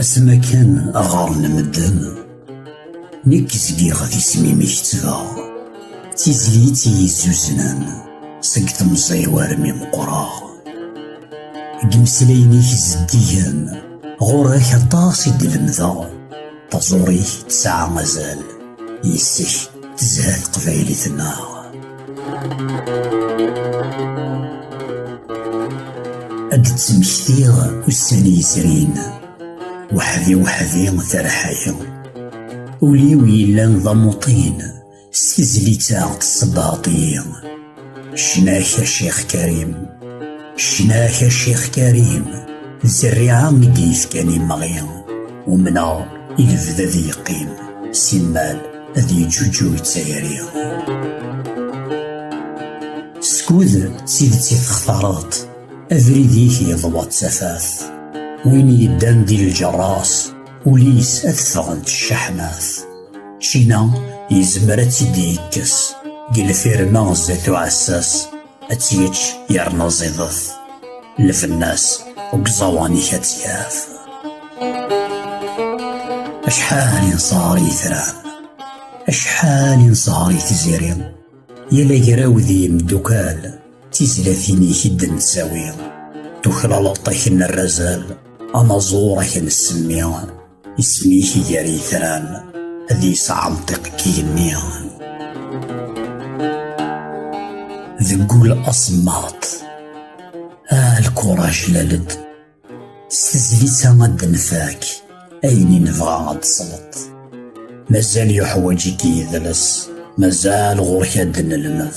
asma kan ɣer-n medden nekk zgiɣ d isem-im kettbeɣ d tizlit i yezzuznen seg temẓi war mi meqqreɣ deg imeslayen-ik zeddigen ɣur-ak aṭas i d-lemdeɣ taẓuri-k tesɛa azal yes-k tezha teqbaylit-nneɣ ad d-ttmektiɣ ussan yezrin weḥdi weḥdi tarḥayi ul-iw yellan d amuṭin s tizlit-a tessebbaɣeḍ-iyi ccna-k a Ccix Karim ccna-k a Ccix Karim d zerriɛa i d-yefkan imeɣi umneɣ i lebda d yeqqim simmal ad yeǧǧuǧug d tayri. Skud s idet i textareḍ, abrid-ik yeḍwa d tafat. Win yeddan di lǧerras, ul-is ad teffɣent ccaḥnat. Ččina yezmer ad tt-id-yekkes, deg lfirma zdat uɛessas. ad tt-yečč yerna ẓidet lbennas deg uẓawan-ik ad tt-yaf acḥal i nesher i yitran acḥal i nesher i tiziri yal agraw d yimeddukkal d tizlatin-ik i d-nettawi tuklaleḍ-ak n rrazal anaẓur-ak n semmi Isem-ik gar yitran, ad yesɛenṭiq deg igenni. Deg wul asemmaḍ, ah lkuraj lal-d. S tezlit-a ad d-nfak ayen i nebɣa ad tesleḍ. Mazal yuḥwaǧ-ik yidles, mazal ɣur-k ad d-nelmed.